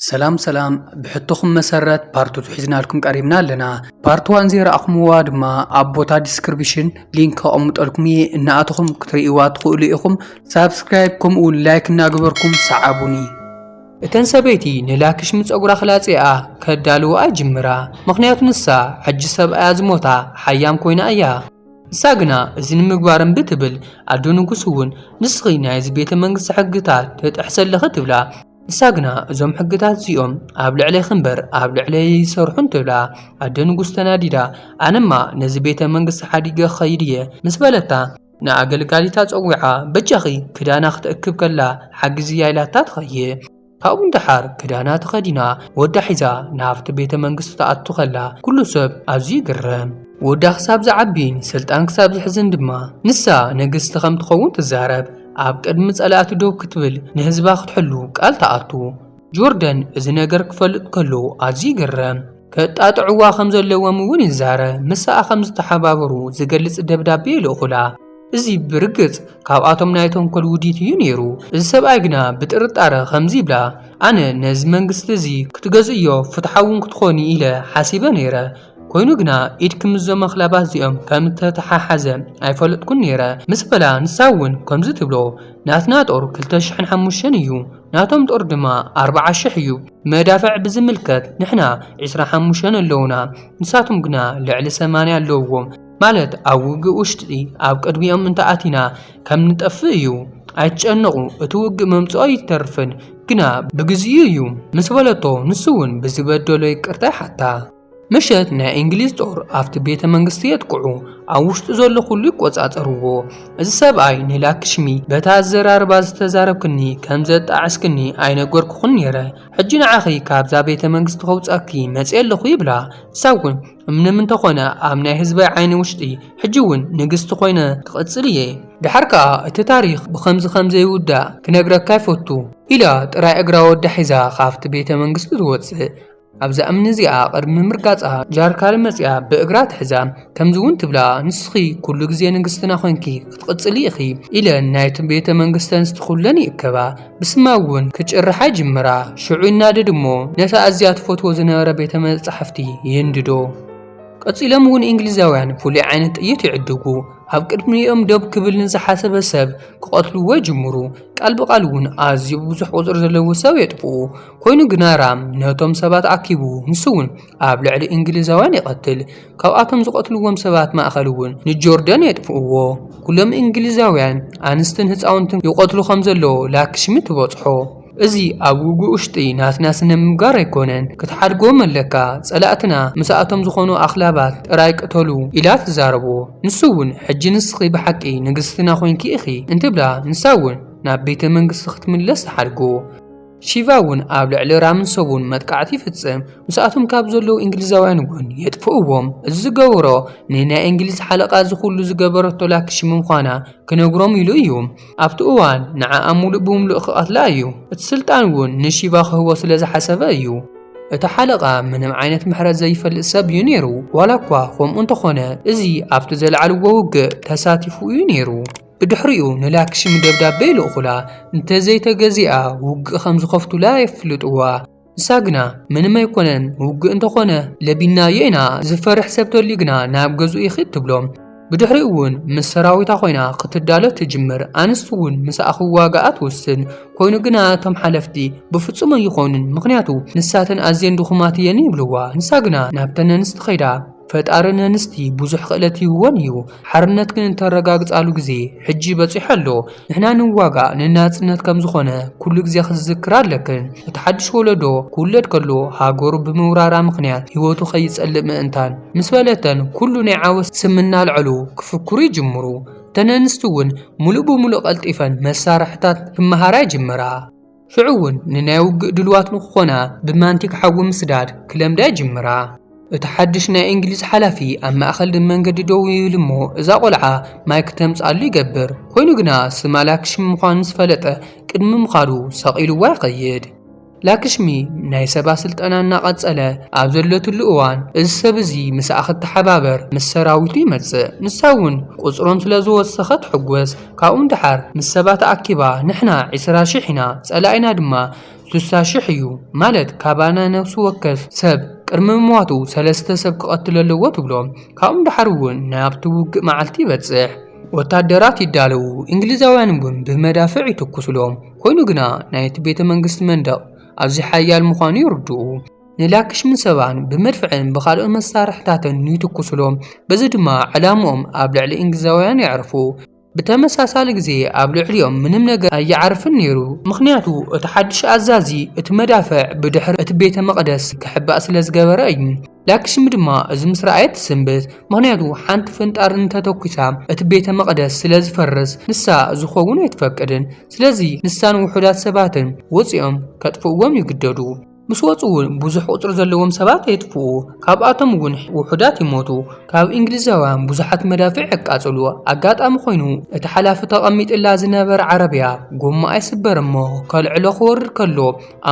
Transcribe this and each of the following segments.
ሰላም ሰላም ብሕቶኹም መሰረት ፓርት ቱ ሒዝናልኩም ቀሪብና ኣለና ፓርት ዋን ዘይረኣኹምዋ ድማ ኣብ ቦታ ዲስክሪፕሽን ሊንክ ከቐምጠልኩም እየ እናኣተኹም ክትርእይዋ ትኽእሉ ኢኹም ሳብስክራይብ ከምኡ እውን ላይክ እናገበርኩም ሰዓቡኒ እተን ሰበይቲ ንላክሽሚ ጸጉራ ክላጽኣ ከዳልውኣ ይጅምራ ምኽንያቱ ንሳ ሕጂ ሰብኣያ ዝሞታ ሓያም ኮይና እያ ንሳ ግና እዚ ንምግባር እምቢ ትብል ኣዶ ንጉስ እውን ንስኺ ናይዚ ቤተ መንግስቲ ሕግታት ትጥሕሲ ኣለኺ ትብላ ንሳ ግና እዞም ሕግታት እዚኦም ኣብ ልዕሌኺ እምበር ኣብ ልዕለይ ኣይሰርሑን ትብላ። ኣደ ንጉስ ተናዲዳ፣ ኣነማ ነዚ ቤተ መንግስቲ ሓዲገ ክኸይድ እየ ምስ በለታ፣ ንኣገልጋሊታ ጸዊዓ በጃኺ ክዳና ክትእክብ ከላ ሓግዝያ ኢላታ ትኸይድ። ካብኡ ንደሓር ክዳና ተኸዲና ወዳ ሒዛ ናብቲ ቤተ መንግስቲ ትኣቱ ከላ ኩሉ ሰብ ኣዝዩ ይግረም። ወዳ ክሳብ ዝዓቢን ስልጣን ክሳብ ዝሕዝን ድማ ንሳ ንግስቲ ከም ትኸውን ትዛረብ። ኣብ ቅድሚ ጸላእቲ ደው ክትብል ንህዝባ ክትሕሉ ቃል ትኣቱ። ጆርደን እዚ ነገር ክፈልጥ ከሎ ኣዝዩ ይግረም። ከጣጥዕዋ ከም ዘለዎም እውን ይዛረ። ምሳኣ ከም ዝተሓባበሩ ዝገልጽ ደብዳቤ ይልእኹላ። እዚ ብርግጽ ካብኣቶም ናይ ተንኮል ውዲት እዩ ነይሩ። እዚ ሰብኣይ ግና ብጥርጣረ ከምዚ ይብላ፣ ኣነ ነዚ መንግስቲ እዚ ክትገዝእዮ ፍትሓውን ክትኾኒ ኢለ ሓሲበ ነይረ። ኮይኑ ግና ኢድኪ ምስዞም ኣኽላባት እዚኦም ከም እተተሓሓዘ ኣይፈለጥኩን ነይረ ምስ በላ፣ ንሳ እውን ከምዚ ትብሎ፣ ናትና ጦር ክልተ ሽሕን ሓሙሽተን እዩ፣ ናቶም ጦር ድማ ኣርብዓ ሽሕ እዩ። መዳፍዕ ብዝምልከት ንሕና ዕስራ ሓሙሽተን ኣለዉና፣ ንሳቶም ግና ልዕሊ ሰማንያ ኣለዉዎም፣ ማለት ኣብ ውግእ ውሽጢ ኣብ ቅድሚኦም እንተ ኣቲና ከም ንጠፍእ እዩ፣ ኣይትጨነቑ፣ እቲ ውግእ ምምጽኡ ኣይተርፍን፣ ግና ብግዜኡ እዩ ምስ በለቶ፣ ንሱ እውን ብዝበደሎ ይቅርታ ይሓታ። ምሸት ናይ እንግሊዝ ጦር ኣብቲ ቤተ መንግስቲ የጥቅዑ፣ ኣብ ውሽጡ ዘሎ ኩሉ ይቆጻጸርዎ። እዚ ሰብኣይ ንላክሽሚ በታ ኣዘራርባ ዝተዛረብክኒ ከም ዘጣዕስክኒ ኣይነገርኩኽን ነይረ፣ ሕጂ ንዓኺ ካብዛ ቤተ መንግስቲ ከውጻኪ መጺኤ ኣለኹ ይብላ። ንሳ እውን ምንም እንተኾነ ኣብ ናይ ህዝበይ ዓይኒ ውሽጢ ሕጂ እውን ንግስቲ ኮይነ ክቕጽል እየ። ደሓር ከኣ እቲ ታሪኽ ብኸምዚ ከም ዘይውዳእ ክነግረካ ይፈቱ። ኢላ ጥራይ እግራ ወዳ ሒዛ ካብቲ ቤተ መንግስቲ ትወጽእ። ኣብዛ እምኒ እዚኣ ቅድሚ ምርጋጻ ጃርካል መጺኣ ብእግራ ትሕዛ፣ ከምዚ እውን ትብላ፣ ንስኺ ኩሉ ግዜ ንግስትና ኮንኪ ክትቕጽሊ ኢኺ፣ ኢለን ናይቲ ቤተ መንግስቲ ኣንስቲ ኩለን ይእከባ፣ ብስማ እውን ክጭርሓ ይጅምራ፣ ሽዑ ይናደድ እሞ ነቲ ኣዝያ ትፈትዎ ዝነበረ ቤተ መጻሕፍቲ ይህንድዶ። ቀጺሎም እውን እንግሊዛውያን ፍሉይ ዓይነት ጥይት ይዕድጉ፣ ኣብ ቅድሚኦም ደው ክብል ንዝሓሰበ ሰብ ክቐትልዎ ይጅምሩ፣ ቃል ብቓል እውን ኣዝዩ ብዙሕ ቁጽሪ ዘለዎ ሰብ የጥፍኡ፣ ኮይኑ ግና ራም ነቶም ሰባት ኣኪቡ ንሱውን ኣብ ልዕሊ እንግሊዛውያን ይቐትል። ካብኣቶም ዝቐትልዎም ሰባት ማእከልውን ንጆርደን የጥፍእዎ። ኩሎም እንግሊዛውያን ኣንስትን ህጻውንትን ይቐትሉ ከም ዘለዉ ላክሽሚ ትበጽሖ። እዚ ኣብ ውግእ ውሽጢ ናትና ስነምግባር ኣይኮነን ክትሓድጎም ኣለካ ጸላእትና ምስኣቶም ዝኾኑ ኣኽላባት ጥራይ ቅተሉ ኢላ ትዛረቦ። ንሱውን ሕጂ ንስኺ ብሓቂ ንግስትና ኮንኪ ኢኺ እንትብላ ንሳውን ናብ ቤተ መንግስቲ ክትምለስ ትሓድጎ። ሺቫ እውን ኣብ ልዕሊ ራምን ሰቡን መጥቃዕቲ ይፍጽም፣ ምስኣቶም ካብ ዘለዉ እንግሊዛውያን እውን የጥፍእዎም። እዚ ዝገበሮ ንናይ እንግሊዝ ሓለቓ እዚ ዅሉ ዝገበረቶ ላክሺ ምምዃና ክነግሮም ኢሉ እዩ። ኣብቲ እዋን ንዓኣ ምሉእ ብምሉእ ክቐትላ እዩ። እቲ ስልጣን እውን ንሺቫ ክህቦ ስለ ዝሓሰበ እዩ። እቲ ሓለቓ ምንም ዓይነት ምሕረት ዘይፈልጥ ሰብ እዩ ነይሩ፣ ዋላ እኳ ኸምኡ እንተ ዀነ እዚ ኣብቲ ዘልዓልዎ ውግእ ተሳቲፉ እዩ ነይሩ። ብድሕሪኡ ንላክሽሚ ደብዳበ ይልእኹላ፣ እንተዘይተገዚኣ ውግእ ከም ዝኸፍቱላ የፍልጥዋ። ንሳ ግና ምንም ኣይኮነን ውግእ እንተኾነ ለቢምናዮ ኢና፣ ዝፈርሕ ሰብ ተልዩ ግና ናብ ገዝኡ ይኺድ ትብሎም። ብድሕሪኡ እውን ምስ ሰራዊታ ኮይና ክትዳሎ ትጅምር፣ ኣንስቲ እውን ምስኣ ክዋግኣ ትውስን። ኮይኑ ግና እቶም ሓለፍቲ ብፍጹም ኣይኾኑን ምኽንያቱ ንሳተን ኣዝየን ድኹማት እየን ይብልዋ፣ ንሳ ግና ናብተን ኣንስቲ ከይዳ። ፈጣሪ ነንስቲ ብዙሕ ክእለት ሂብወን እዩ ሓርነት ግን እተረጋግጻሉ ግዜ ሕጂ በጺሑ ኣሎ ንሕና ንዋጋእ ንናጽነት ከም ዝኾነ ኩሉ ግዜ ክትዝክራ ኣለክን እቲ ሓድሽ ወለዶ ክውለድ ከሎ ሃገሩ ብምውራራ ምኽንያት ሂወቱ ከይጸልእ ምእንታን ምስ በለተን ኩሉ ናይ ዓወት ስም እናልዐሉ ክፍክሩ ይጅምሩ እተን ኣንስቲ እውን ምሉእ ብምሉእ ቀልጢፈን መሳርሕታት ክመሃራ ይጅምራ። ሽዑ እውን ንናይ ውግእ ድሉዋት ንክኾና ብማንቲግ ሓዊ ምስዳድ ክለምዳ ይጅምራ። እቲ ሓድሽ ናይ እንግሊዝ ሓላፊ ኣብ ማእኸል መንገዲ ደው ይብል እሞ እዛ ቆልዓ ማይ ክተምፅኣሉ ይገብር። ኮይኑ ግና ስማ ላክሽሚ ምዃኑ ምስ ፈለጠ ቅድሚ ምኻዱ ሰቕ ኢሉዋ ይኸይድ። ላክሽሚ ናይ ሰባ ስልጠና እናቐፀለ ኣብ ዘለትሉ እዋን እዚ ሰብ እዚ ምስኣ ክትሓባበር ምስ ሰራዊቱ ይመፅእ። ንሳ እውን ቁፅሮም ስለዝወሰኸ ትሕጎስ። ካብኡ ንደሓር ምስ ሰባ ተኣኪባ ንሕና ዕስራ ሽሕ ኢና ጸላኢና ድማ ስሳ ሽሕ እዩ ማለት ካባና ነብሲ ወከፍ ሰብ ቅድሚ ምሟቱ ሰለስተ ሰብ ክቐትል ኣለዎ ትብሎ። ካብኡ ንደሓር እውን ናብቲ ውግእ መዓልቲ ይበጽሕ። ወታደራት ይዳለዉ እንግሊዛውያን እውን ብመዳፍዕ ይትኩሱሎም። ኮይኑ ግና ናይቲ ቤተ መንግስቲ መንደቕ ኣዝዩ ሓያል ምዃኑ ይርድኡ። ንላክሽምን ሰባን ብመድፍዕን ብኻልኦት መሳርሕታትን ይትኩሱሎም፣ በዚ ድማ ዕላምኦም ኣብ ልዕሊ እንግሊዛውያን የዕርፉ። ብተመሳሳሊ ግዜ ኣብ ልዕሊኦም ምንም ነገር ኣይዓርፍን ነይሩ፣ ምኽንያቱ እቲ ሓድሽ ኣዛዚ እቲ መዳፍዕ ብድሕሪ እቲ ቤተ መቕደስ ክሕባእ ስለ ዝገበረ እዩ። ላክሽሚ ድማ እዚ ምስ ረኣየት ትስንብድ፣ ምኽንያቱ ሓንቲ ፍንጣር እንተ ተኲሳ እቲ ቤተ መቕደስ ስለ ዝፈርስ ንሳ እዚ ክኸውን ኣይትፈቅድን። ስለዚ ንሳን ውሑዳት ሰባትን ወጺኦም ከጥፍእዎም ይግደዱ። ምስ ወጹ እውን ብዙሕ ቁጽሪ ዘለዎም ሰባት የጥፍኡ፣ ካብኣቶም እውን ውሑዳት ይሞቱ። ካብ እንግሊዛውያን ብዙሓት መዳፍዕ የቃጽሉ። ኣጋጣሚ ኮይኑ እቲ ሓላፊ ተቐሚጥላ ዝነበረ ዓረብያ ጎማኣ ይስበር እሞ ከልዕሎ ክወርድ ከሎ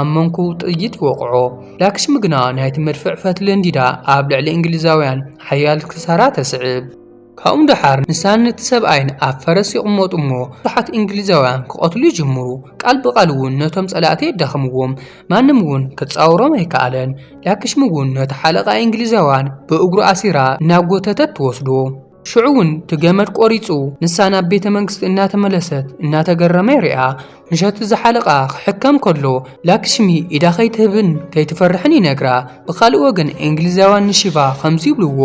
ኣብ መንኩ ጥይት ይወቕዖ። ላክሽሚ ግና ናይቲ መድፍዕ ፈትሊ ኣንዲዳ ኣብ ልዕሊ እንግሊዛውያን ሓያል ክሳራ ተስዕብ። ካብኡ ደሓር ንሳን ነቲ ሰብኣይን ኣብ ፈረስ ይቕመጡ እሞ ብዙሓት እንግሊዛውያን ክቐትሉ ይጅምሩ። ቃል ብቓል እውን ነቶም ጸላእቲ የዳኽምዎም። ማንም እውን ክጻወሮም ኣይከኣለን። ላክሽሚ እውን ነቲ ሓለቓ እንግሊዛውያን ብእግሩ ኣሲራ እናጎተተት ትወስዶ። ሽዑ እውን እቲ ገመድ ቆሪጹ ንሳ ናብ ቤተ መንግስቲ እናተመለሰት እናተገረመ ይሪኣ። ምሸቱ ዝሓለቓ ክሕከም ከሎ ላክሽሚ ኢዳ ከይትህብን ከይትፈርሕን ይነግራ። ብኻልእ ወገን እንግሊዛውያን ንሺቫ ከምዚ ይብልዎ፣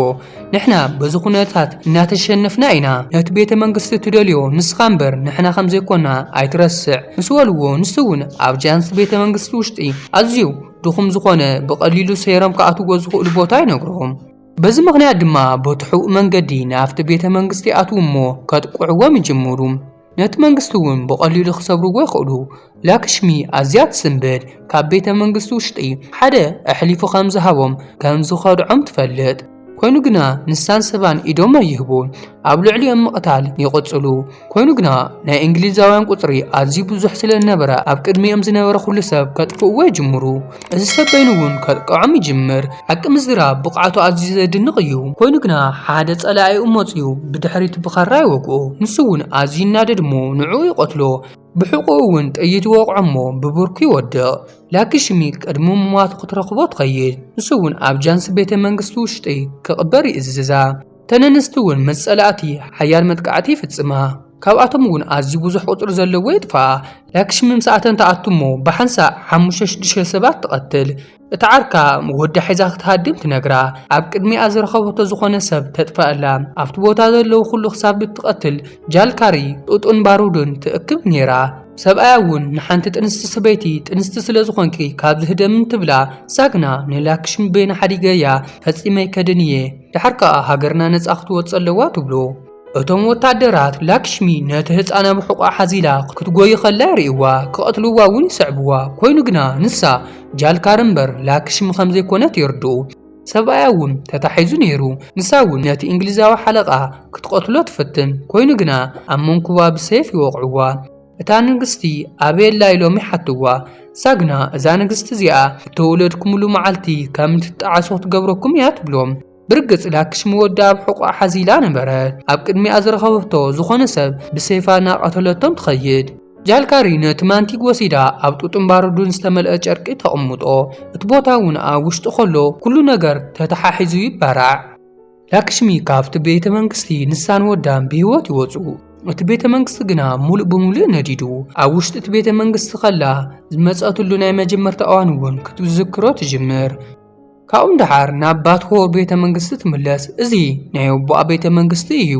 ንሕና በዚ ኩነታት እናተሸነፍና ኢና። ነቲ ቤተ መንግስቲ ትደልዮ ንስኻ እምበር ንሕና ከም ዘይኮና ኣይትረስዕ ምስ በልዎ ንሱ እውን ኣብ ጃንስ ቤተ መንግስቲ ውሽጢ ኣዝዩ ድኹም ዝኾነ ብቐሊሉ ሰይሮም ክኣትዎ ዝኽእሉ ቦታ ይነግሮም። በዚ ምኽንያት ድማ በቲ ሕቡእ መንገዲ ናብቲ ቤተ መንግስቲ ይኣትዉ እሞ ከጥቅዕዎም ይጅምሩ። ነቲ መንግስቲ እውን ብቐሊሉ ክሰብርዎ ይኽእሉ። ላክሽሚ ኣዝያ ትስንብድ፣ ካብ ቤተ መንግስቲ ውሽጢ ሓደ ኣሕሊፉ ከም ዝሃቦም ከም ዝኸድዖም ትፈልጥ። ኮይኑ ግና ንሳን ሰባን ኢዶም ኣይህቡን፣ ኣብ ልዕሊኦም ምቕታል ይቕጽሉ። ኮይኑ ግና ናይ እንግሊዛውያን ቁጽሪ ኣዝዩ ብዙሕ ስለ ዝነበረ ኣብ ቅድሚኦም ዝነበረ ኩሉ ሰብ ከጥፍእዎ ይጅምሩ። እዚ ሰብ በይኑ እውን ከጥቅዖም ይጅምር። ሓቂ ምዝራብ ብቕዓቱ ኣዝዩ ዘድንቕ እዩ። ኮይኑ ግና ሓደ ጸላኢኡ መጺኡ ብድሕሪት ብኻራ ይወግኦ። ንሱ እውን ኣዝዩ ይናደድ እሞ ንዕኡ ይቐትሎ። ብሕቖኡ እውን ጥይት ይወቕዖ እሞ ብብርኩ ይወድቕ። ላኪሽሚ ቅድሚ ምሟቱ ክትረኽቦ ትኸይድ። ንሱ እውን ኣብ ጃንሲ ቤተ መንግስቲ ውሽጢ ክቕበር ይእዝዛ። እተን ኣንስቲ እውን ምስ ጸላእቲ ሓያል መጥቃዕቲ ይፍጽማ፣ ካብኣቶም እውን ኣዝዩ ብዙሕ ቁጽሪ ዘለዎ የጥፍኣ። ላክሽሚ ምስኣተን ትኣቱ እሞ ብሓንሳእ ሓሙሽተ ሽዱሽተ ሰባት ትቐትል። እታ ዓርካ ወዳ ሒዛ ክትሃድም ትነግራ። ኣብ ቅድሚኣ ዝረኸበቶ ዝኾነ ሰብ ተጥፍኣላ። ኣብቲ ቦታ ዘለዉ ኩሉ ክሳብ እትቐትል ጃልካሪ፣ ጡጥን ባሩድን ትእክብ ኔራ። ሰብኣያ እውን ንሓንቲ ጥንስቲ ሰበይቲ ጥንስቲ ስለ ዝኾንኪ ካብዚ ህደሚ እንትብላ፣ እሳ ግና ንላክሽሚ በይና ሓዲገያ ፈጺመ ኣይከድን እየ። ድሓር ከኣ ሃገርና ነጻ ክትወጽእ ኣለዋ ትብሉ። እቶም ወተሃደራት ላክሽሚ ነቲ ህጻን ኣብ ሕቖኣ ሓዚላ ክትጎዪ ከላ ይርእይዋ፣ ክቐትልዋ እውን ይስዕብዋ። ኮይኑ ግና ንሳ ጃልካር እምበር ላክሽሚ ከም ዘይኮነት የርድኡ። ሰብኣያ እውን ተታሒዙ ነይሩ። ንሳ እውን ነቲ እንግሊዛዊ ሓለቓ ክትቐትሎ ትፍትን፣ ኮይኑ ግና ኣብ መንኵባ ብሰይፍ ይወቕዕዋ። እታ ንግስቲ ኣበይ ኣላ ኢሎም ይሓትዋ። እሳ ግና እዛ ንግስቲ እዚኣ እተወለድኩምሉ መዓልቲ ከም እትጣዓሱ ክትገብረኩም እያ ትብሎም። ብርግጽ ላክሽሚ ወዳ ኣብ ሕቖኣ ሓዚላ ነበረት። ኣብ ቅድሚኣ ዝረኸበቶ ዝኾነ ሰብ ብሰይፋ እናቐተለቶም ትኸይድ። ጃልካሪ ነቲ ማንቲግ ወሲዳ ኣብ ጡጥን ባሩድን ዝተመልአ ጨርቂ ተቕምጦ። እቲ ቦታ እውን ኣብ ውሽጡ ከሎ ኩሉ ነገር ተተሓሒዙ ይባራዕ። ላክሽሚ ካብቲ ቤተ መንግስቲ ንሳን ወዳን ብህይወት ይወጹ። እቲ ቤተ መንግስቲ ግና ምሉእ ብምሉእ ነዲዱ። ኣብ ውሽጢ እቲ ቤተ መንግስቲ ከላ ዝመጸትሉ ናይ መጀመርታ እዋን እውን ክትዝክሮ ትጅምር። ካብኡ ንደሓር ናብ ባትሆ ቤተ መንግስቲ ትምለስ። እዚ ናይ ኣቦኣ ቤተ መንግስቲ እዩ።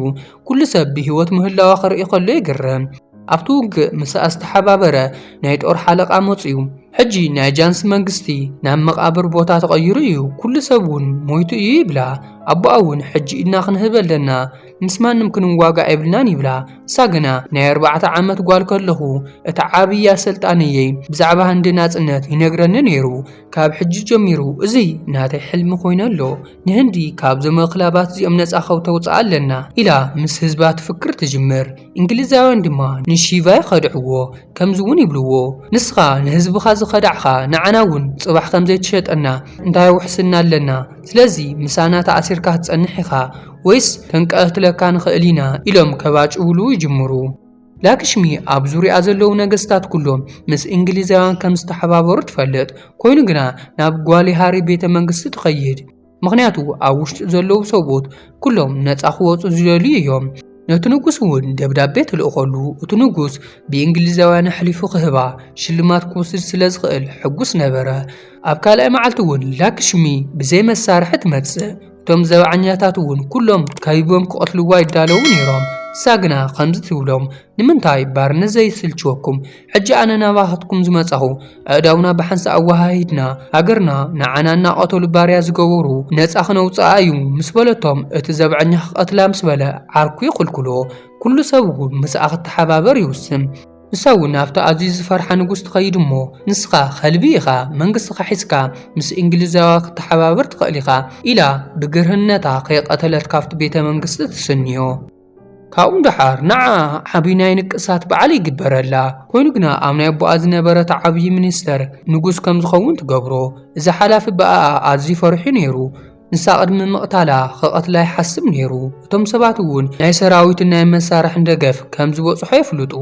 ኩሉ ሰብ ብህይወት ምህላዋ ክርኢ ከሎ ይግረም። ኣብቲ ውግእ ምስኣ ዝተሓባበረ ናይ ጦር ሓለቓ መጽዩ። ሕጂ ናይ ጃንስ መንግስቲ ናብ መቓብር ቦታ ተቐይሩ እዩ፣ ኩሉ ሰብ እውን ሞይቱ እዩ ይብላ። ኣቦኣ እውን ሕጂ ኢድና ክንህብ ኣለና፣ ምስ ማንም ክንዋጋእ የብልናን ይብላ። ንሳ ግና ናይ ኣርባዕተ ዓመት ጓል ከለኹ እቲ ዓብዪ ኣሰልጣኒየይ ብዛዕባ ህንዲ ናጽነት ይነግረኒ ነይሩ፣ ካብ ሕጂ ጀሚሩ እዚ ናተይ ሕልሚ ኮይኑ ኣሎ፣ ንህንዲ ካብዞም ኣኽላባት እዚኦም ነጻ ከተውጽኣ ኣለና ኢላ ምስ ህዝባ ትፍክር ትጅምር። እንግሊዛውያን ድማ ንሺቫ ይኸድዕዎ ከምዚውን ይብልዎ ንስኻ ንህዝብኻ ዝኸዳዕኻ ንዓና እውን ጽባሕ ከምዘይትሸጠና እንታይ ውሕስና ኣለና ስለዚ ምሳና ተኣሲርካ ክትጸንሕ ኢኻ ወይስ ከንቀትለካ ንኽእል ኢና ኢሎም ከባጭውሉ ይጅምሩ። ላክሽሚ ኣብ ዙርያኣ ዘለዉ ነገስታት ኩሎም ምስ እንግሊዛውያን ከምዝተሓባበሩ ትፈልጥ፣ ኮይኑ ግና ናብ ጓል ሃሪ ቤተ መንግስቲ ትኸይድ። ምኽንያቱ ኣብ ውሽጡ ዘለዉ ሰብኡት ኵሎም ነጻ ኽወጹ ዚደልዩ እዮም። ነቲ ንጉስ እውን ደብዳቤ ተልእኸሉ። እቲ ንጉስ ብእንግሊዛውያን ኣሕሊፉ ኽህባ፣ ሽልማት ክውስድ ስለ ዝኽእል ሕጉስ ነበረ። ኣብ ካልኣይ መዓልቲ እውን ላክሽሚ ብዘይ መሳርሒ ትመጽእ። እቶም ዘብዓኛታት እውን ኵሎም ከቢቦም ኪቐትልዋ ይዳለዉ ነይሮም። ንሳ ግና ኸምዚ ትብሎም፣ ንምንታይ ባርነት ዘይስልችወኩም? ሕጂ ኣነ ናባኻትኩም ዝመጻኹ ኣእዳውና ብሓንሳእ ኣወሃሂድና ሃገርና ንዓና እናቐተሉ ባርያ ዝገበሩ ነጻ ክነውጽኣ እዩ ምስ በለቶም እቲ ዘብዐኛ ክቐትላ ምስ በለ ዓርኩ ይኽልክሎ ኩሉ ሰብ እውን ምስኣ ክተሓባበር ይውስን ንሳ እውን ኣብቲ ኣዝዩ ዝፈርሓ ንጉስ ትኸይድ እሞ ንስኻ ከልቢ ኢኻ መንግስትኻ ሒዝካ ምስ እንግሊዛውያ ክተሓባበር ትኽእል ኢኻ ኢላ ብግርህነታ ከይቐተለት ካብቲ ቤተ መንግስቲ ትስንዮ ካብኡ ደሓር ንዓ ዓብይ ናይ ንቅሳት በዓል ይግበረላ። ኮይኑ ግና ኣብ ናይ ኣቦኣ ዝነበረት ዓብይ ሚኒስተር ንጉስ ከም ዝኸውን ትገብሮ። እዚ ሓላፊ ብኣኣ ኣዝዩ ፈሪሑ ነይሩ። ንሳ ቅድሚ ምቕታላ ክቐትላ ይሓስብ ነይሩ። እቶም ሰባት እውን ናይ ሰራዊትን ናይ መሳርሕን ደገፍ ከም ዝበፅሖ የፍልጡ።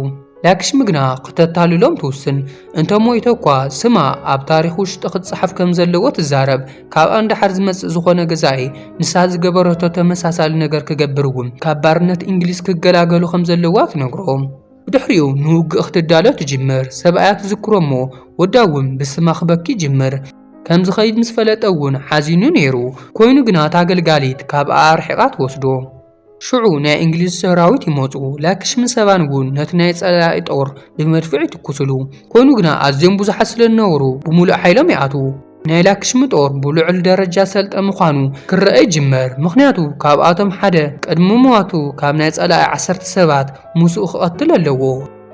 ላክሽሚ ግና ክተታልሎም ትውስን። እንተ ሞይተ እኳ ስማ ኣብ ታሪኽ ውሽጢ ክጸሓፍ ከም ዘለዎ ትዛረብ። ካብኣ ንደሓር ዝመጽእ ዝኾነ ገዛኢ ንሳ ዝገበረቶ ተመሳሳሊ ነገር ክገብር እውን ካብ ባርነት እንግሊዝ ክገላገሉ ከም ዘለዋ ትነግሮ። ብድሕሪኡ ንውግእ ክትዳሎ ትጅምር። ሰብኣያ ትዝክሮ እሞ ወዳ እውን ብስማ ክበኪ ይጅምር። ከም ዝኸይድ ምስ ፈለጠ እውን ሓዚኑ ነይሩ። ኮይኑ ግና እታ ኣገልጋሊት ካብኣ ኣርሒቓ ትወስዶ። ሽዑ ናይ እንግሊዝ ሰራዊት ይመጹ፣ ላክሽምን ሰባን እውን ነቲ ናይ ጸላኢ ጦር ብመድፍዕ ይትኩሱሉ። ኮይኑ ግና ኣዝዮም ብዙሓት ስለ ዝነበሩ ብምሉእ ሓይሎም ይኣትዉ። ናይ ላክሽሚ ጦር ብልዑል ደረጃ ዝሰልጠ ምዃኑ ክረኣ ይጅመር፣ ምኽንያቱ ካብኣቶም ሓደ ቅድሚ ምሟቱ ካብ ናይ ጸላኢ ዓሰርተ ሰባት ምስኡ ክቐትል ኣለዎ።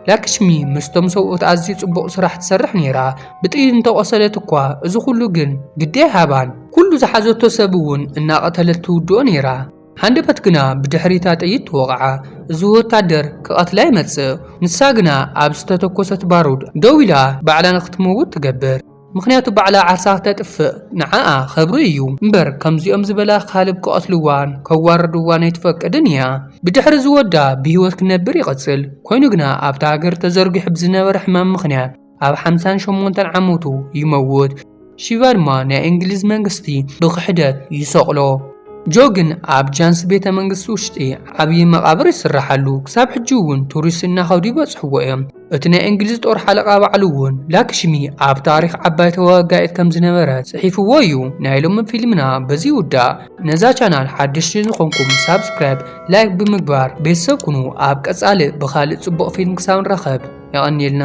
ላክሽሚ ምስቶም ሰብኡት ኣዝዩ ጽቡቕ ስራሕ ትሰርሕ ነይራ፣ ብጥይት እንተቖሰለት እኳ እዚ ዅሉ ግን ግዲ ኣይሃባን። ኵሉ ዝሓዘቶ ሰብ እውን እናቐተለት ትውድኦ ነይራ። ሃንደበት ግና ብድሕሪ እታ ጥይት ተወቕዓ። እዚ ወታደር ክቐትላ ይመጽእ። ንሳ ግና ኣብ ዝተተኮሰት ባሩድ ደው ኢላ ባዕላ ንክትመውት ትገብር። ምኽንያቱ ባዕላ ዓርሳ ክተጥፍእ ንዓኣ ኸብሪ እዩ። እምበር ከምዚኦም ዝበላ ካልብ ክቐትልዋን ከዋርድዋን ኣይትፈቅድን እያ። ብድሕሪ እዚ ወዳ ብህይወት ክነብር ይቕጽል። ኮይኑ ግና ኣብታ ሃገር ተዘርጊሑ ብዝነበረ ሕማም ምኽንያት፣ ኣብ ሓምሳን ሸሞንተን ዓመቱ ይመውት። ሺቫ ድማ ናይ እንግሊዝ መንግስቲ ብክሕደት ይሰቕሎ። ጆ ግን ኣብ ጃንስ ቤተ መንግስቲ ውሽጢ ዓብዪ መቓብር ይስራሓሉ። ክሳብ ሕጂ እውን ቱሪስት እናኸዱ ይበፅሕዎ እዮም። እቲ ናይ እንግሊዝ ጦር ሓለቓ ባዕሉ እውን ላክሽሚ ኣብ ታሪኽ ዓባይ ተዋጋኢት ከም ዝነበረት ፅሒፍዎ እዩ። ናይ ሎሚ ፊልምና በዚ ይውዳእ። ነዛ ቻናል ሓደሽቲ ዝኾንኩም ሳብስክራይብ፣ ላይክ ብምግባር ቤተሰብ ኩኑ። ኣብ ቀፃሊ ብኻሊእ ፅቡቕ ፊልም ክሳብ ንራኸብ የቐንየልና።